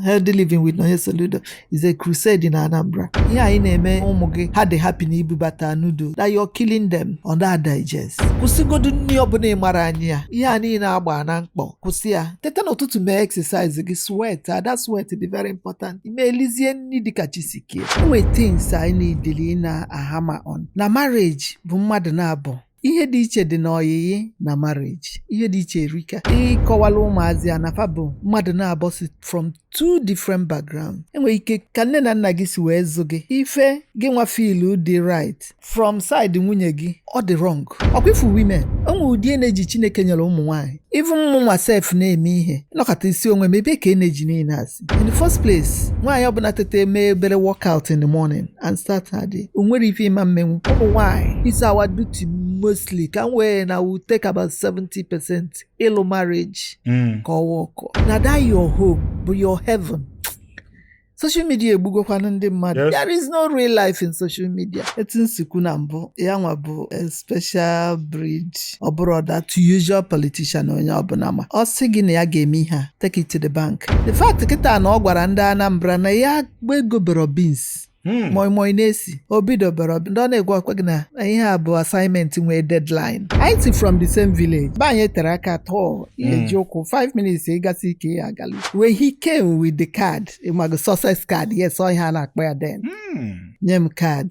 Healthy Living with Nonye Soludo is a crusade in Anambra. Ihe anyị na-eme ụmụ gị ha dị happy na ibubata noodles na you're killing them ọ naha digest. Kwụsịgodu nri ọbụla ị mara anyị ya ihe a niile agba na mkpọ kwụsị ya teta n'ụtụtụ mee exercise gị sweat that sweat dị very important i mee e lizie nri dịka chi si kee. Enwe things anyị na-edili na-ahammer on na marriage bụ mmadụ naabọ ihe dị iche dị n'ọyịyị na marriage ihe dị iche erika ị kọwala ụmụazị a na fa bụ mmadụ naabọ si from two different background enwere ike ka nne na nna gị si wee zụ gị ife gị nwa feelu dị right from side nwunye gị ọ dị wrong ọ kwa ị fụ women o nwe ụdị energy chineke nyere ụmụ nwaanyị even mụ nwa self na-eme ihe nọkata sị onwe m ebe ka energy niile a si in the first place nwaanyị ọbụla tete mee obere workout in the morning and start her day o nwere ife ị ma-emenwu ụmụ nwaanyị it's our duty mostly ka m wee na will take about 70 percent ịlụ marriage mm. ka ọ workọ na that your home bụ your heaven social media egbugokwanụ ndị mmadụ Yes. there is no real life in social media etu m si kwu na mbụ ya nwa bụ eh, special breed ọ bụrọ that usual politician onye ọbụla ma ọ sị gị na ya ga-eme ihe a take it to the bank the fact kịta na ọ gwara ndị Anambra na ya gba ego bero beans Hmm. moi moi na-esi obi dobere ndị ọ na-agwakwa gị na ihe a bụ assignment nwee deadline anyị si from the same village be anyị eterọ aka tọọ ihe hmm. ji ụkwụ 5 minutes ị gasi ike ya agalu wee he came with the card ị mago success card yes ọ ihe a na-akpọ ya then hmm. nye m card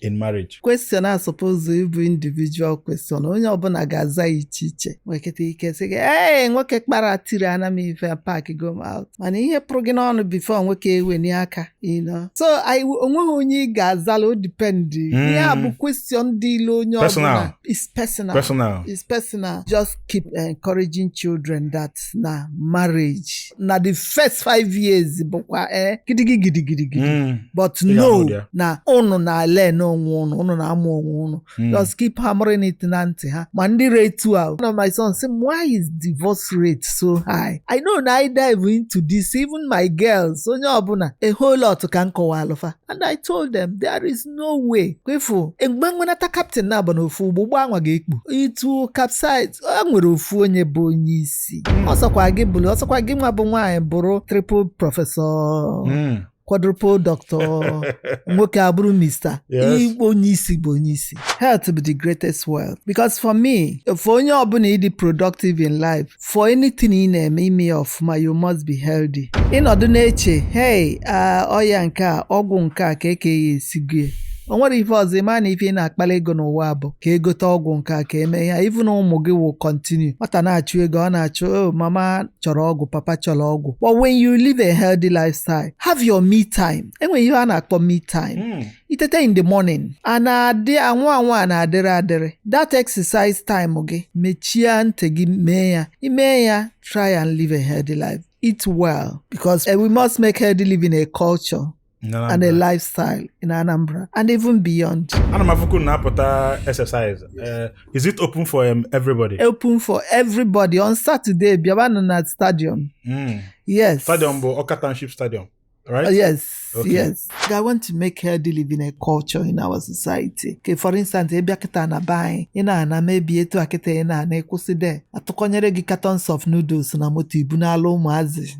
in marriage. Question a suppose ịbụ individual question onye ọbụla ga-aza ya iche iche nwekịta ike sị gị ee nwoke kpara tiri ana m ife pack go out mana ihe pụrụ gị n'ọnụ before nwoke eweni aka you know so onweghị onye ị ga-azala ọ depend hmm. ihe a bụ question dịịlị onye ọbụla it's personal it's personal just keep encouraging children that na marriage na the first five years bụkwa eh, gidigidi gidigidi gidi Mm. but Ị ga-anụ know ụdị ya. na ụnụ na-elearn onwe ụnụ ụnụ na-amụ onwe ụnụ Mm. just keep hammering it na ntị ha ma ndị ra etu a one of my sons sị m why is divorce rate so high i know na i dive into this even my girls onye ọbụla a whole lot ka m kọwaalụ fa and i told them there is no way kwa ị fụ mgbe e nwenata captain naabọ n'ofu ụgbọ ụgbọ anwa ga-ekpu it will capsize e nwere ofu onye bụ onye isi ọ sọkwa gị bụrụ ọ sọkwa gị nwa bụ nwaanyị bụrụ triple professor Mm. quadruple doctor nwoke abụrụ mister Yes. igbo onye isi bụ onye isi health bụ the greatest wealth because for me for onye ọbụla ịdị productive in life for anything ị na-eme ime ya ọfụma you must be healthy ịnọdụ na-eche hey ọya nke a ọgwụ nke a ka eke ya esigo ya o nwere ife ọzọ ịma na ife ị na-akpali ego n'ụwa bụ ka egote ọgwụ nke a ka eme ya even ụmụ gị will continue nwata na-achụ ego ọ na-achụ o oh, mama chọrọ ọgwụ papa chọrọ ọgwụ but when you live a healthy lifestyle have your me time enwere ihe a na-akpọ me time hmm. itete in the morning a na-adị anwụ anwụ a na-adịrị adịrị that exercise time gị mechie ntị gị mee ya ime ya try and live a healthy life eat well because eh, we must make healthy living a culture and a lifestyle in Anambra and even beyond. Ana m afụkwu na apụta exercise. Eh, is it open for um, everybody? Open for everybody on Saturday bịabanụ na stadium. Mm. Yes. Stadium bụ Awka Township Stadium. Right? Uh, yes, okay. yes. I want to make healthy living a culture in our society. Okay, for instance, ebe a kịta na be anyị ị na-ana maybe etu a kịta ị na-ana ịkwụsị there atụkọnyere gị cartons of noodles na moto ibunala ụmụazị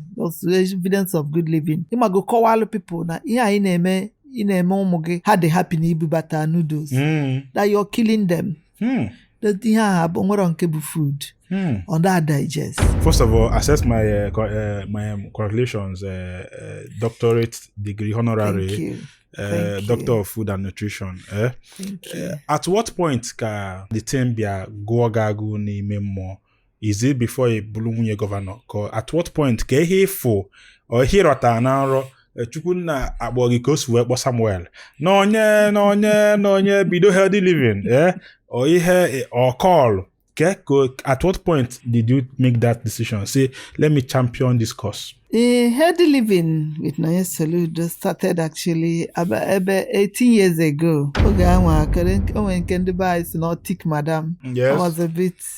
evidence of good living ịmago kọwalụ people na ihe anyị na-eme ị na-eme ụmụ gị ha dị happy na ibubata noodles mm. that you're killing them Hmm. That ihe ahụ o nwerọ nke bụ food. Hmm. Ọ da digest. First of all, accept my uh, co uh, my um, congratulations, uh, uh, doctorate degree honorary. Thank you. Uh, doctor of food and nutrition eh? uh, at what point ka the thing bịa gụọ gị agụụ n'ime mmụọ is it before ị bụrụ nwunye gọvanọ ka at what point ka ihe ịfụ ihe ịrọta na nrọ eh, chukwu nna akpọ gị ka o si wee kpọ samuel Nonye Nonye Nonye bido healthy living eh? or ihe or call ka at what point did you make that decision say let me champion this cause The healthy living with Nonye Soludo started actually about ebe 18 years ago. Oge ahụ akere onwe nke ndị be anyị sị na ọ thick madam. I was a bit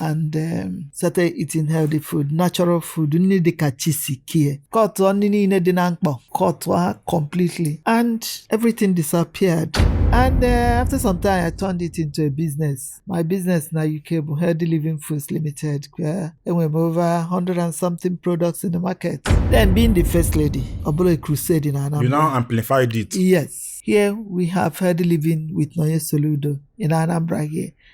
and um, started eating healthy food natural food nri dịka chi si kee cutụọ nri niile dị na mkpọ cutụọ ha completely and everything disappeared and uh, after some time i turned it into a business my business na uk bụ healthy living foods limited where enwere m over 100 and something products in the market then being the first lady ọ bụrụ a crusade na You anambra now amplified it. yes here we have healthy living with nonye soludo in anambra here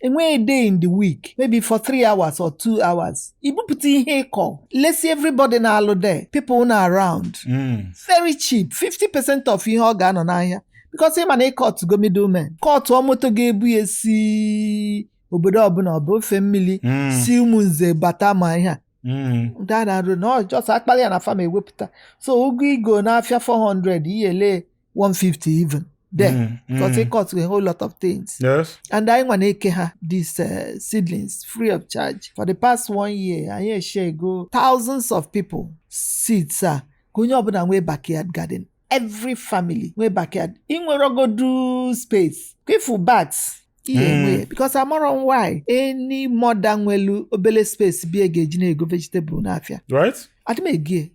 enwere a day in the week maybe for three hours or two hours ibupụta ihe ịkọ lesi everybody na-alụ there people nọ around Mm. very cheap 50% of ihe ọ ga-anọ n'ahịa because ị ma na ị cutgo middlemen cutụọ moto ga-ebu ya si obodo ọbụna ọ bụ ofe mmili Mm. si ụmụnze bata ma ihe a Mm. ndị a na-arụ na ọ just akpali ya na farm ewepụta so ụgụ igo n'afịa 400 ihe ele 150 even there Mm, mm. because it costs a whole lot of things Yes. and anyị nwa na-eke ha these uh, seedlings free of charge for the past one year anyị eshare go thousands of people seeds a ka onye ọbụla nwee backyard garden every family nwee backyard inwerogodu space ka ifu bags ihe Mm. enwe ya because amarọ m why any mother nwelu obele space bie ga-eji na-ego vegetable n'afịa Right? adị m ego ya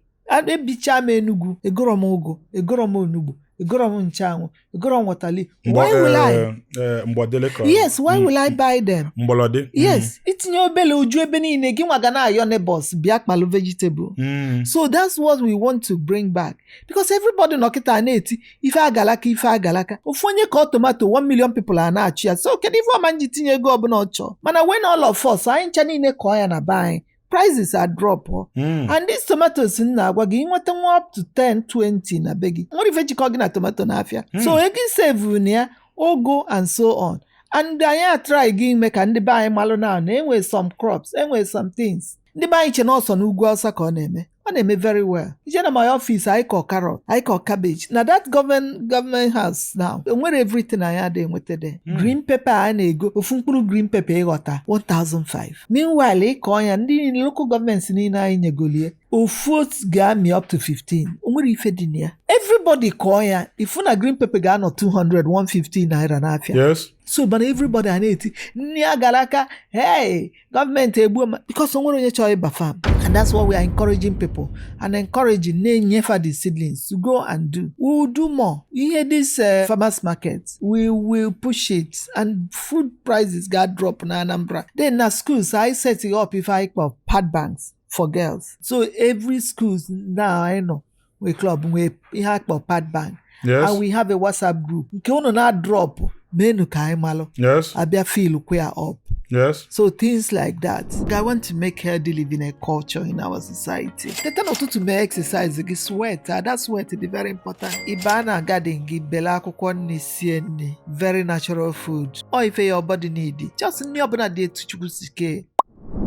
ebicha m enugwu egoro m ụgụ egoro m onugbu egoro m nchanwụ egoro m waterleaf why will I eh, eh, mgbọdele ka yes why mm. will I buy them mgbọlọdị mm. yes itinye obele o ju ebe niile gị nwa ga na-ayọ neighbors bịa kpalụ vegetable mm. so that's what we want to bring back because everybody nọ kịta na-eti ife agalaka ife agalaka ofu onye kọọ tomato 1 million people a na-achụ ya so kedu ife ọ ma-eji tinye ego ọbụla ọ chọọ mana when all of us anyị ncha niile kọọ ya na be anyị prices adropụọ Mm. and these tomatoes m na-agwa gị ị nweta nwa up to 10 20 na be gị o nwerọ ife jikọ gị na tomato n'afịa Mm. so ego isevuru na ya ogo and so on and anyị atry go ime ka ndị be anyị malụ na na enwe some crops enwe some things ndị be anyị che na ọ sọ n'ugwu Awụsa ka ọ na-eme ọ na-eme very well i je na my office anyị kọ carrot anyị kọ cabbage na that government government house now enwere everything anyị ada enweta there Mm. green pepper a na-ego ofu mkpụrụ green pepper ị ghọta 1005 meanwhile ịkọ ya ndị niile local government niile anyị nyegolie ofu otu ga-amị up to 15 o nwerọ ife dị na ya everybody kọọ ya ifu na green pepper ga-anọ 200 150 naira n'afịa yes so mana everybody a na-eti nri agalaka hey gọọmenti egbuo ma because onwere onye chọrọ ịba fam and that's what we are encouraging people and encouraging na-enyefa the seedlings to go and do we will do more ihe this uh, farmers market we will push it and food prices ga drop na Anambra then na schools I set it up if I kpọ pad banks for girls so every schools now I know nwee club nwee ihe a kpọ pad bank Yes. and we have a whatsapp group nke unu na-adrọpụ meenụ ka anyị malụ Yes. a bịa fill kwa up Yes. so things like that i want to make healthy living a culture in our society teta n'ụtụtụ mee exercise gị sweat ah, that sweat dị very important ịba na garden gị bele akwụkwọ nri sie nri very natural food ọ ife your body needi just nri ọbụla dị etu chukwu si kee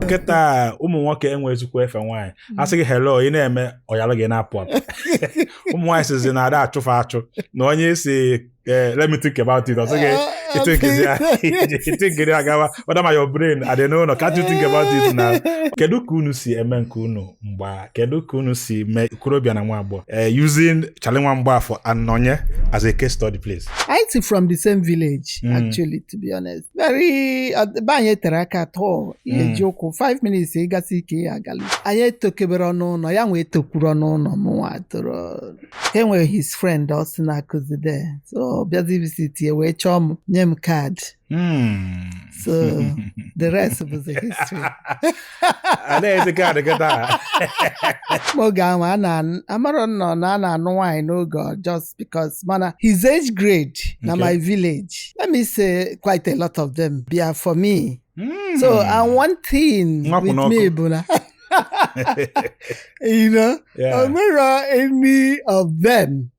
kịta ụmụ nwoke enwezikwa efe nwaanyị a sị gị hello ị na-eme ọ yalụ gị na-apụ apụ ụmụ nwaanyị sizi na ada achụ fa achụ na onye si eh, let me think about it ọ sị gị i thinkiri agawa whether my your brain adị n'ụlọ can't you think about it now kedu ka unu si eme nke unu mgba kedu ka unu si mee okorobịa na nwa agbọghọ eh, using Charlie Nwa Mgbafọ and Nọnye as a case study please. Anyị si from the same village, Mm. actually, to be honest. Very, ọ- ebe anyị tero aka at all Mm. e ji ụkwụ 5 minutes ị gasi ike ya agali anyị etokọbero ọnụ ya nwee tokwuru n'ụlọ mụ nwa toro e nwere his friend also na-akụzi there so ọ bịazi visit ya wee chọọ m nye m card Mm. So, the rest bụzi history. a na-ezi ka ọ dị kịta oge ahụ a na-amarọ nnọọ na a na-anụ nwaanyị n'oge ọ just because mana his age grade na Okay. my village let me say quite a lot of them bịa for me Hmm. so and one thing Nwa kwụ with n'ọkụ. me bụ na you know Yeah. o nwerọ any of them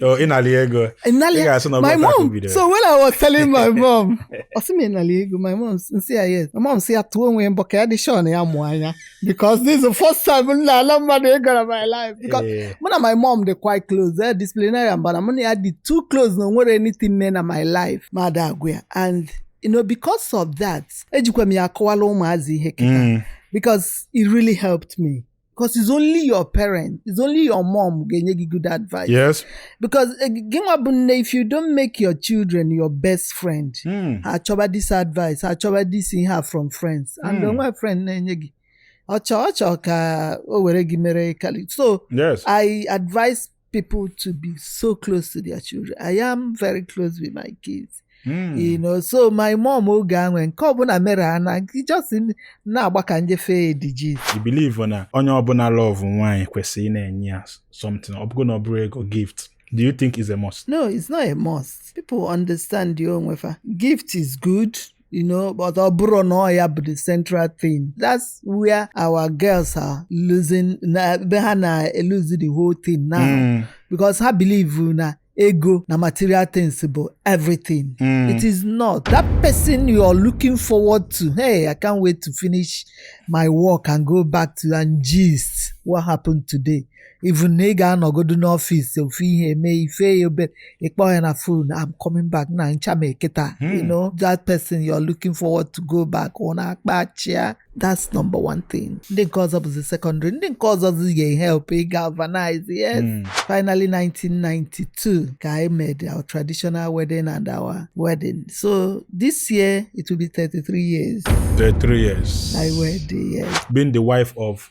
Oh, ị nalị ego. Ị nalị ị ga-asị na my mom. So when I was telling my mom, ọ sị m ị nalị ego, my mom m sị ya yes. My mom sị ya tụọ onwe mbọ ka ya dị sure na ya mụ anya. Because this is the first time m na-ana mmadụ ego na my life. Because eh. mụ na my mom dị quite close. They're disciplinarian, but mụ na ya dị too close na o nwerọ anything mee na my life m ada agwa ya. And you know, because of that, ejikwa m ya akọwalụ ụmụazị ihe kịta. Mm. Because it really helped me. because it's only your parent it's only your mom ga-enye gị good advice yes because eh, gị nwa bụ nne if you don't make your children your best friend Mm. ha achọba this advice ha achọba this ihe a from friends and Mm. o nwe friend na-enye gị ọ chọ ọ chọ ka o were gị mere kali so yes i advise people to be so close to their children. I am very close with my kids. Mm. You know, so my mom oge e nwee nke ọbụla mere ana just na-agba ka m je feed ya gist. Ị believe na onye ọbụla love nwaanyị kwesịrị ịna-enye ya something ọ bụgodu na ọ bụrọ ego gift. Do you think it's a must? No, it's not a must. People understand onwe fa. Gift is good. you know but ọ bụrụ na ọ ya bụ the central thing that's where our girls are losing na ebe ha na-eluzi the whole thing now Mm, because ha believe na ego na material things bụ everything mm. it is not that person you are looking forward to hey i can't wait to finish my work and go back to and gist what happened today even na ị ga-anọgodu n'ọfịs ofu ihe eme ife obere ị kpọọ ya na phone I'm coming back na ncha m eketa Hmm. you know that person you're looking forward to go back unu akpaa achịa that's number one thing ndị nke ọzọ bụzi secondary ndị nke ọzọ zi ga-ehelp ị galvanize yes Mm. finally 1992 ka anyị mere our traditional wedding and our wedding so this year it will be 33 years 33 years. anyị wed yes Being the wife of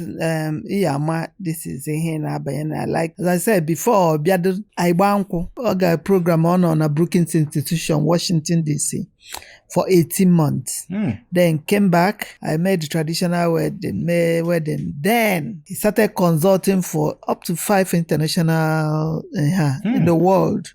um ị ya-ama this is ihe na-abanye na like as I said before ọ bịado anyị gbaa nkwụ ọ gaa program ọ nọ na Brookings Institution Washington DC for 18 months Hmm. then came back anyị mee the traditional wedding mee wedding then he started consulting for up to five international uh, in the world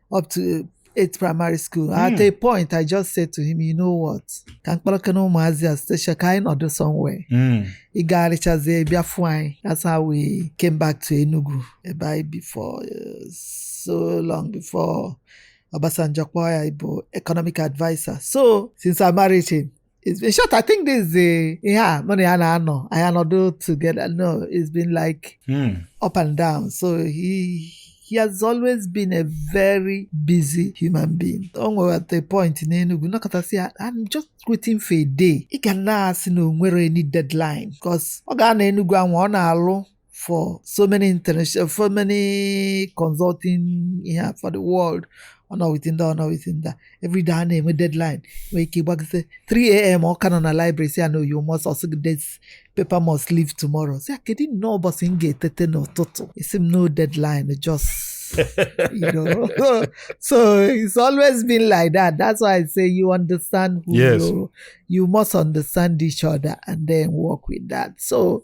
up to eight primary school mm. at hmm. a point i just said to him you know what ka m kpọrọkene ụmụazị a station ka anyị nọdụ somewhere hmm. ị gagharịchazie bịa fụ anyị that's how we came back to Enugu ebe anyị bi for uh, so long before Obasanjo kpọọ ya ịbụ economic adviser so since I married him It's been short. I think this is the yeah, mụ na ya na-anọ anọdụ together. No, it's been like hmm. up and down. So he he has always been a very busy human being. O nwere at a point n'Enugu m nọkata sị ya I'm just waiting for a day ị ga na-asị na o nwerọ any deadline because ọ ga-anọ Enugu anwa ọ na-alụ for so many international, for many consulting yeah, for the world. Ọ nọ within that, ọ nọ within that. Every day a na-enwe deadline. Nwee ike gbagide 3 a.m. ọ ka nọ na library sị ya no you must ọ sị gị this paper must leave tomorrow. Sị ya kedu nnọọ ụbọchị m ga-etete n'ụtụtụ? Ị sị m no deadline just you know. so it's always been like that. That's why I say you understand who yes. you you must understand each other and then work with that. So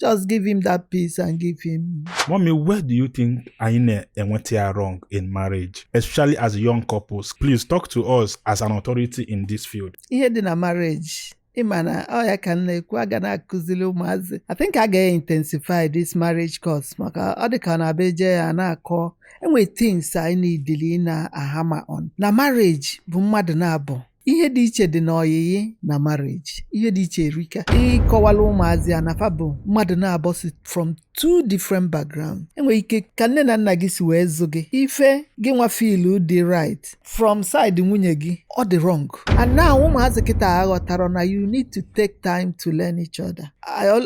just give him that peace and give him. Mommy, where do you think anyị na-enweta ya wrong in marriage, especially as young couples? Please talk to us as an authority in this field. Ihe dị na marriage ị ma na ọ ya ka m na-ekwu a ga na-akụzili ụmụazị I think a ga-intensify this marriage course maka ọ dị ka ọ na-abụ e je ya a na-akọ e nwe things anyị needili ịna-ahammer on na marriage bụ mmadụ naabọ ihe dị iche dị n'ọyịyị na marriage ihe dị iche erika ị kọwala ụmụazị a na fa bụ mmadụ naabọ si from two different background e nwee ike ka nne na nna gị si wee zụ gị ife gị nwa filu dị right from side nwunye gị ọ dị wrong and now ụmụazị kịta aghọtarọ na you need to take time to learn each other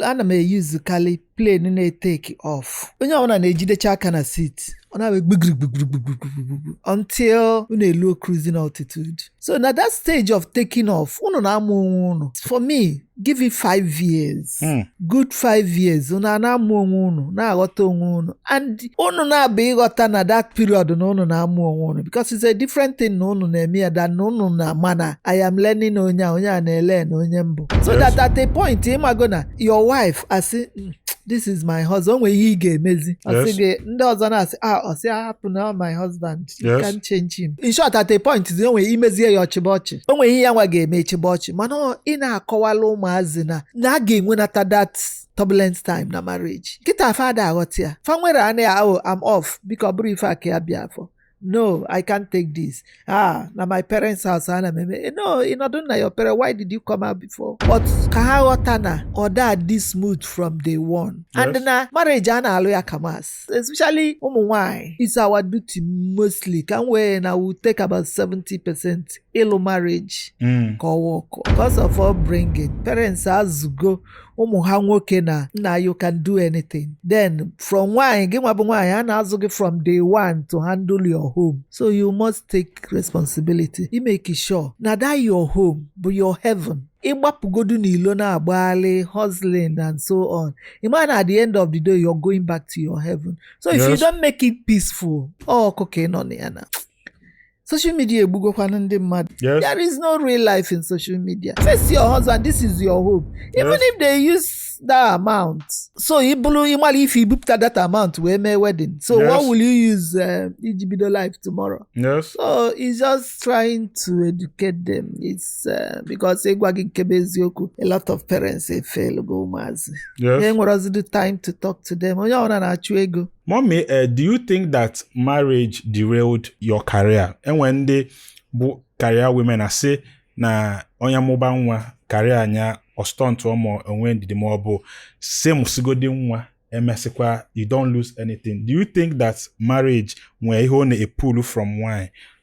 ana m eyuzukarị plane na-etake off onye ọbụla na-ejidecha aka na seat ọ na-abịa gbigrigbigrigbigrigbigbu until unu eluo cruising altitude so na that stage of taking off unu na-amụ onwe unu for me give it five years hmm. good five years unu a na-amụ onwe unu na-aghọta onwe unu and unu na-abụ ịghọta na that period na unu na-amụ onwe unu because it's a different thing na unu na-eme ya than na unu na-ama na I am learning onye a onye a na-elearn onye m bụ so that at a point ị mago na your wife asị "Mm, this is my husband o nwere ihe ị ga-emezi ọ sị Yes. gị ndị ọzọ na-asị ah ọ sị ah hapụ na my husband you Yes. can't change him in short at a point o nwere i mezie ya ọ chịba ọchị o nwere ihe ya nwa ga-eme ị chịba ọchị mana ọ- ị na-akọwala ụmụazị na na a ga-enwenata that turbulent time na marriage kịta fa ada aghọta ya fa nwere anaghị ahụ I'm off biko ọ bụrụ ife a ka ya bịa for no i can't take this ah na my parents house ana m eme eh, no ị nọdụ na your parents why did you come out before but ka ha ghọta na ọ da adị smooth from day one and Yes. na marriage a na-alụ ya ka maths especially ụmụ nwanyị it's our duty mostly ka m wee na we take about 70 percent ịlụ marriage Mm. ka ọ workụọ because of upbringing parents azụgo ụmụ ha nwoke na na you can do anything then from nwaanyị gị nwa bụ nwaanyị a na-azụ gị from day one to handle your home so you must take responsibility i make sure na that your home bụ your heaven ị gbapụgodu n'ilo na-agbagharị hustling and so on ị ma na at the end of the day you're going back to your heaven so if you don't make it peaceful ọ ọkụ ka ị nọ na ya na social media egbugokwanụ ndị mmadụ Yes. there is no real life in social media face your husband this is your home even Yes. if they use that amount so ị bụrụ ịmara if i bupụta that amount wee mee wedding so Yes. what will you use um, iji bido life tomorrow Yes. so he's just trying to educate them it's uh, because ịgwa gị nke bụ eziokwu a lot of parents efelugo ụmụazị Yes. enwerọzidi time to talk to them onye ọbụla na-achụ ego Mommy, uh, do you think that marriage derailed your career? Enwe ndị bụ career women asị na onye mụba nwa career nya ọ stuntụ ma onwe ndidi ma ọ bụ sị mụsigodi nwa emesịkwa you don't lose anything. Do you think that marriage nwere ihe ọ na-epulu from nwanyị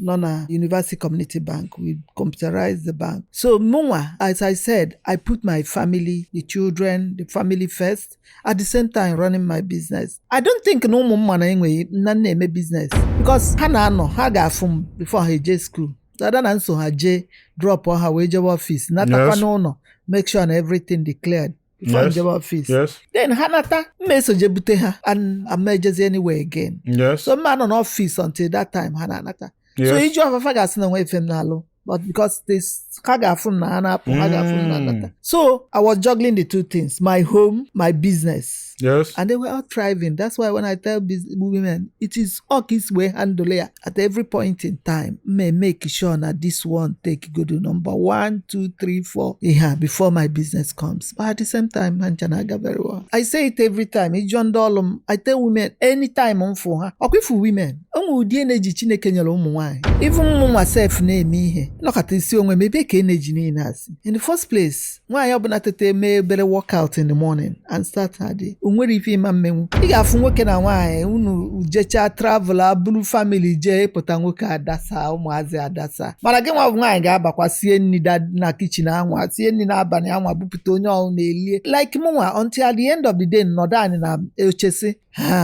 nọ na University Community Bank we computerized the bank so mụnwa as I said I put my family the children the family first at the same time running my business I don't think na ụmụ m ma na enweghị na m na-eme business because ha na-anọ ha ga-afụ m before ha eje school dada na m so ha jee drop ha wee jebe office natakwa Yes. n'ụnọ make sure na everything dị cleared before Yes. m jebe office Yes. then ha nata mma eso je bute ha and ama m ejezi anywhere again Yes. so mma anọ n'office until that time ha na-anata so Yes. ị jụa fa fa ga-asị na enwe ife m na-alụ but because this ha ga-afụ m na ha na-apụ ha ga-afụ m na Mm. anata so i was juggling the two things my home my business Yes. and they were all thriving that's why when i tell bus- women it is ọ ka i si wee handle ya at every point in time ma make sure na this one take godo number one two three four ihe a before my business comes but at the same time ha ncha na-aga very well I say it every time ị jụọ ndị ọlụ m I tell women anytime m fụ ha ọkwa ị fụ women onwe ụdị energy Chineke nyere ụmụ nwaanyị even mụ nwa sef na-eme ihe nọkata asị onwe m ebe ka energy niile a si in the first place nwaanyị ọbụla tete mee obere workout in the morning and start her day o nwere ife ị ma emenwu ị ga-afụ nwoke na nwaanyị unu jechaa travel ebulu family jee ị pụta nwoke adasa ụmụazị adasa mana gị nwa bụ nwaanyị ga-abakwa sie nni na kitchen anwa sie nni n'abalị anwa bupụta onye ọbụna elie like mụnwa until at the end of the day m nọdụ anị n'oche sị ha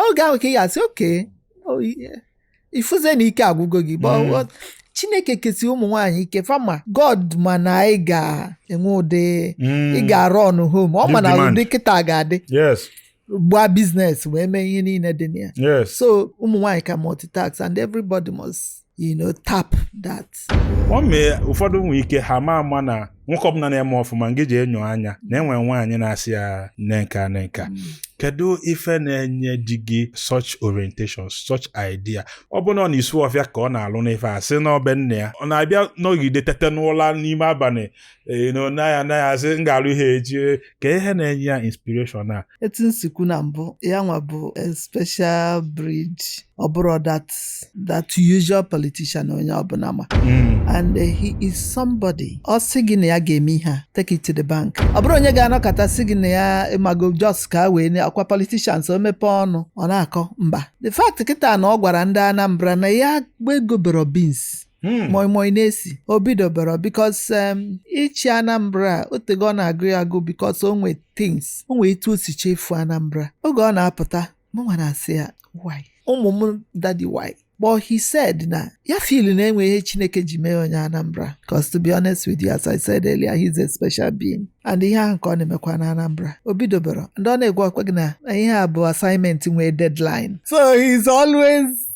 oge ahụ ka ị ga-asị okay oh, ị fụzie na ike agwụgo gị but Mm. what- Chineke kesi ụmụ nwaanyị ike fama God ma na anyị ga-enwe ụdị Mm. ị ga-arun home ọ ma Give na demand. ụdị kịta ga-adị yes gbaa business wee mee ihe niile dị na ya yes so ụmụ nwaanyị can multitask and everybody must you know tap that ọ mee ụfọdụ nwee ike ha ma ama na nwoke ọbụna na-eme ọfụma ngị ji enyo anya na enwe nwaanyị na-asị ya nee nka nee nka kedu ife na-enye di gị such orientation such idea ọ bụ na ọ na-esu ọfịa ka ọ na-alụ n'ife a sị na ọ be nne ya ọ na-abịa nọgide tete n'ụla n'ime abalị ee na ọ naghị anaghị asị m ga-alụ ihe echi ka ihe na-enye ya inspiration a etu m si kwu na mbụ ya nwa bụ a special breed ọ bụrọ that that usual politician onye ọbụla ma and uh, he is somebody ọ sị gị na ya ga-eme ihe a take it to the bank ọ bụrọ onye ga-anọkata sị gị na ya ịmago just ka a wee na- ọkwa politicians o mepee ọnụ ọ na-akọ mba the fact kịta na ọ gwara ndị Anambra na ya ka egwebero beans Hmm. moi moi na-esi o bidobero because um, ịchị anambra otego ọ na-agụ ya agụ because o nwe things o nwe etu o si chefu anambra oge ọ na-apụta mụnwa na-asị ya why ụmụ m daddy why but he said na ya feel na e nwe ihe chineke ji mee onye anambra cos to be honest with you as i said earlier he's a special being and ihe ahụ ka ọ na-emekwa na anambra o bidobero and ọ na-agwakwa gị na ihe a bụ assignment nwee deadline so he's always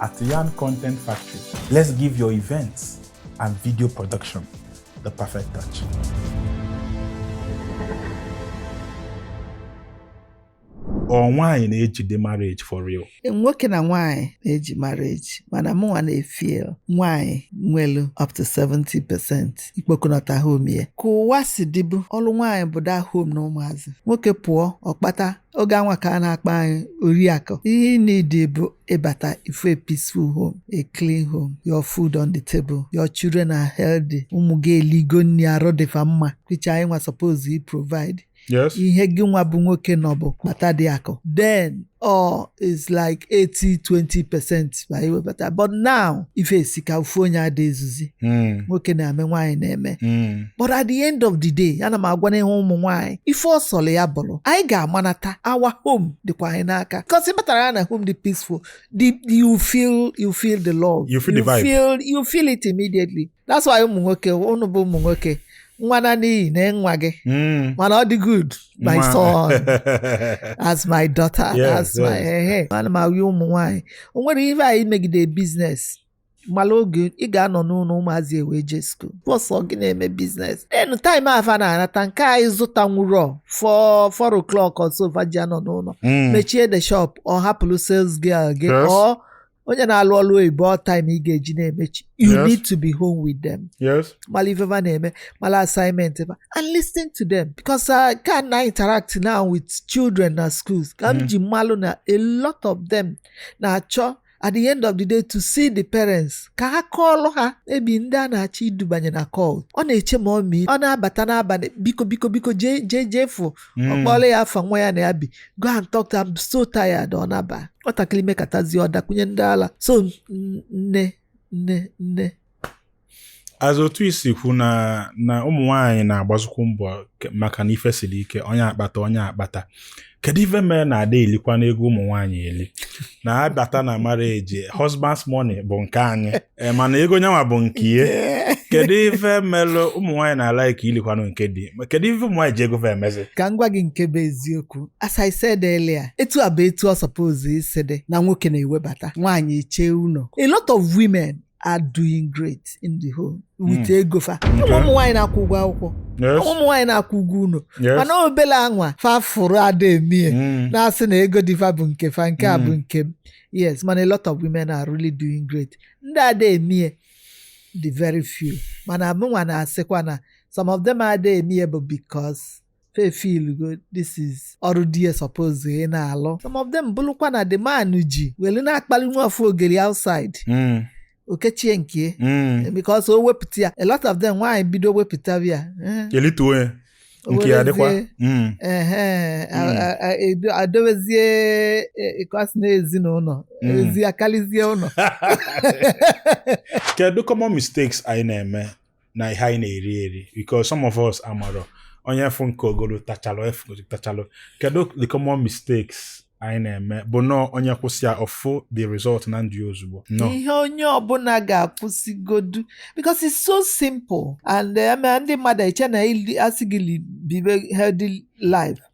At Yarn Content Factory, let's give your events and video production the perfect touch. ọ nwaanyị na-ejide marriage for real nwoke na nwaanyị na-eji marriage mana mụnwa na-efeel nwaanyị nwelu up to 70 percent ikpokọnata home ya ka ụwa si dịbu ọlụ nwaanyị bụ the home na ụmụazị nwoke pụọ ọ kpata oge anwa ka a na-akpọ anyị oriakụ ihe ị need bụ ị bata ị fụ a peaceful home a clean home your food on the table your children are healthy ụmụ gị eligo nri arụ dịfa mma which anyị nwa suppose i provide Yes. ihe gị nwa bụ nwoke nọ bụ kpata the akụ then all is like 80 20 percent tupu anyị webata but now ife esika ofu onye ada ezuzi Mm, nwoke na-eme nwaanyị na-eme mm, but at the end of the day ana m agwa n'ihu ụmụ nwaanyị ife ọ sọlụ ya bụlụ anyị ga-amanata our home dịkwa anyị n'aka because ị batara ya na home dị peaceful the, you feel you feel the love You feel the vibe. feel, you feel it immediately that's why ụmụ nwoke ụnụ bụ ụmụ nwoke nwa naa n'iyi na nwa gị Mm. mana ọ dị good my Nwa. son as my daughter Yes, as my yes. ehe ana m awụ ụmụ nwaanyị o nwere ihe anyị megide business mala oge ị ga-anọ n'ụlọ ụmụazị ewe je school bọsọ gị na-eme business e nwe time fa na-anata nke anyị zụta nwụrọ four four o'clock ọsọ vaji anọ n'ụlọ Mm. mechie the shop or hapụrụ sales girl gị Yes. ọ onye na-alụ ọlụ oyibo all time ị ga-eji na-emechi you Yes. need to be home with them yes mala ife fa na-eme mala assignment fa and listen to them because uh, ka m na-interact now with children na schools ka m Mm. ji malụ na a lot of them na-achọ at the end of the day to see the parents ka ha kọọlụ ha abi ndị a na-achọ idubanye na cult ọ na-eche mummy ọ na-abata n'abalị biko biko biko jee jee jee fụ ọ Mm. kpọọla ya afa nwa ya na ya bi go and talk to I'm so tired ọ naba nwatakịrị mekatazi ọ dakwunye ndị ala so nne nne nne as otu i si kwu na na ụmụ nwaanyị na-agbazikwu mbọ maka na ife siri ike onye akpata onye akpata kedu ife mere na ada elikwa n'ego ụmụ nwaanyị eli na a bata na marriage husband's money bụ nke anyị ee mana ego nyanwa bụ nke ihe kedu ife melụ ụmụ nwaanyị na-ala ike ilikwanụ nke di ma kedu ife ụmụ nwaanyị ji ego fa emezi ka m gwa gị nke bụ eziokwu as I said earlier etu a bụ etu ọ suppose isi dị na nwoke na-ewebata nwaanyị chee ụlọ a lot of women are doing great in the home with Hmm. ego fa Okay. ụmụ ụmụ nwaanyị na-akwụ ụgwọ akwụkwọ Yes. ụmụ nwaanyị na-akwụ ụgwọ ụlọ Yes. mana obele anwa fa fụrụ ada emie Mm. na-asị na ego di fa bụ nke fa nke a bụ Mm. nke m yes mana a lot of women are really doing great ndị ada emie dị very few mana mụnwa na-asịkwa na some of them ada emie bụ because fa feelgo this is ọrụ di ya suppose ịna-alụ some of them bụrụkwa na the man ji welu na-akpali nwa afọ ogeri outside Mm. o kechie nke Mm. because o wepụta ya a lot of them nwaanyị bido wepụtaba ya eh, elituo ya nke ya dịkwa werezie, Mm. ehe, a- Mm. a- a- edo- adowezie eh, ka ọ sị na ezinụlọ Mm. ezi akarịzie ụlọ kedu common mistakes anyị na-eme na ihe anyị na-eri eri because some of us amarọ onye fụ nke o golu tachalụ efu tachalụ kedu the common mistakes anyị na-eme bụ na onye kwụsị ya ọ fụ the result na ndụ ya ozugbo no ihe onye ọbụla ga-akwụsịgodu because it's so simple and eh, ma ndị mmadụ eche na ili- a sị gị li- bibe healthy life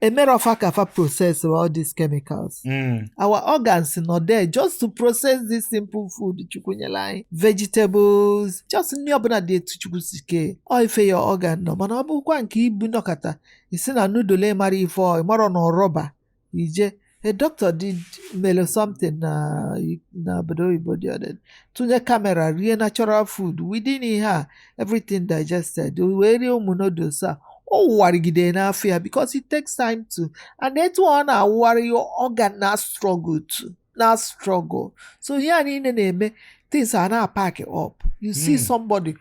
emerọ fa ka fa process all these chemicals Mm. our organs nọ there just to process this simple food chukwu nyere anyị vegetables just nri ọbụla dị etu chukwu si kee ọ ife your organ know mana ọ bụkwa nke ibu nọkata isi na noodle mara ife ọ ịmarọ na ọ rọba ije a doctor did mere something na na obodo oyibo dị ọdị tụnye kamera rie natural food within ihe a everything digested o wee rie ụmụ noodles a ọ wụwarịgide n'afọ ya because it takes time to and etu ọ na-awụgharị your organ na struggle to na struggle so ihe a niile na-eme things a na-apack up you see Hmm. somebody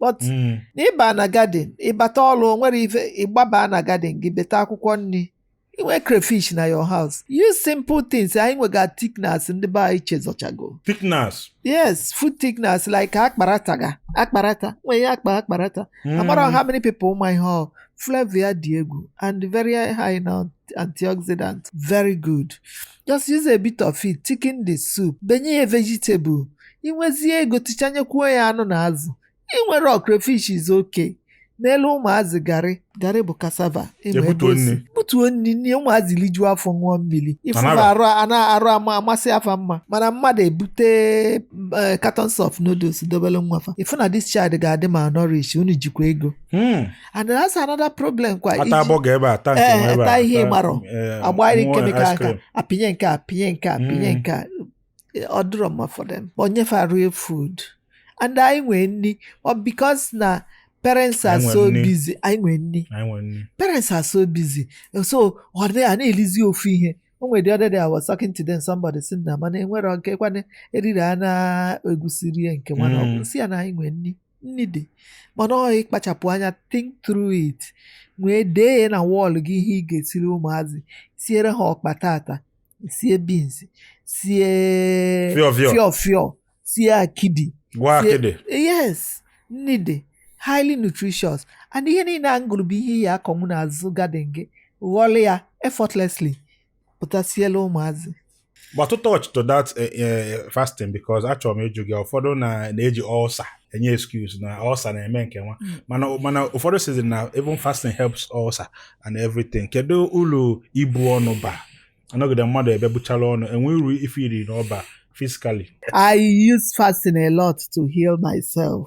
but Mm. na ị ba na garden ị bata ọrụ nwere ife ị gbaba na garden gị beta akwụkwọ nri i nwe crayfish na your house use simple things anyị nwega thickeners ndị be anyị chezọchago Thickeners. yes food thickeners like akparata ga akparata nwee ihe akpa akparata Mm. amarọ how many people ma ihe ọ flavour ya dị egwu and very high na antioxidant very good just use a bit of it thicken the soup benye ya vegetable ị nwezie ego tichanyekwuo ya anụ na azụ ị nwere crayfish is okay n'elu ụmụazị garị garị bụ cassava ị ma ebe Ebutuo o si. nri. butuo nni ụmụazị lijuo afọ ṅụọ mmiri Tanaba. ị fụba arụ a na arụ ama amasịa fa mma mana mmadụ ebute eh, cartons of noodles dobere nwa fa ị fụ na this child ga-adị malnourished unu jikwa ego Hmm. and that's another problem kwa ata burger ebe a ata nke nwa ebe a ata ihe gbara agbara chemical aka apinye nke apinye nke apinye nke ọ dịrọ mma for them nye fa real food and anyị nwee nni because na parents are so busy anyị nwee nni parents are so busy so ọ dị a na-elizi ofu ihe o nwere the other day I was talking to them somebody si na mana enwere nke kwana eriri a na-egwusiri ya nke nwana ọgwụ si ya na anyị nwee nni nni dị mana ọ ịkpachapụ anya think through it wee dee ya na wall gị ihe ị ga-esiri ụmụazị siere ha ọkpa tata sie beans sie fiọfiọ sie akidi yes nni dị highly nutritious and ihe niile a m gụlụ bụ ihe ị ya-akọnwu n'azụ garden gị ghọlụ ya effortlessly pụta sielụ ụmụazị but to touch to that eh, eh, fasting because achọrọ m ịjụ gị ụfọdụ na-eji ulcer enye excuse na ulcer na-eme nke nwa hmm. mana mana ụfọdụ sizi na even fasting helps ulcer and everything kedu uru ibu ọnụ ba anọgide mmadụ ebe i buchara ọnụ enwe uru ị fụrụ na ọ baa physically I use fasting a lot to heal myself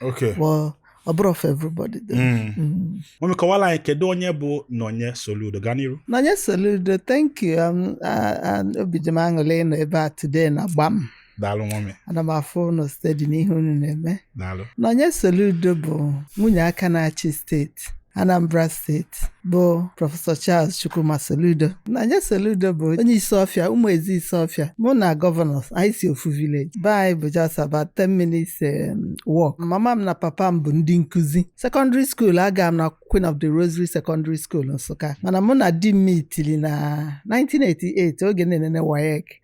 Okay. But ọ bụrọ for everybody though. Mm. Mm. Mami kọwala anyị kedu onye bụ Nonye Soludo gaa n'iru. Nonye Soludo, thank you. Um, ah, ah, obi dị m aṅụlị ịnọ ebe a today na Gbam. Daalụ mami. Ana m afụ unu steady n'ihe unu na-eme. Daalụ. Nonye Soludo bụ nwunye aka na-achị steeti steeti Anambra steeti bụ prọfesọ Charles Chukwuma Soludo Nonye Soludo bụ onye Isuofia Umueze Isuofia mụ na gọvanọ anyị si ofu village be anyị bụ just about 10 minutes um, walk mama m na papa m bụ ndị nkuzi secondary school aga m na Queen of the Rosary Secondary School Nsụka mana mụ na di m meetili na 1988 oge m na-enene WAEC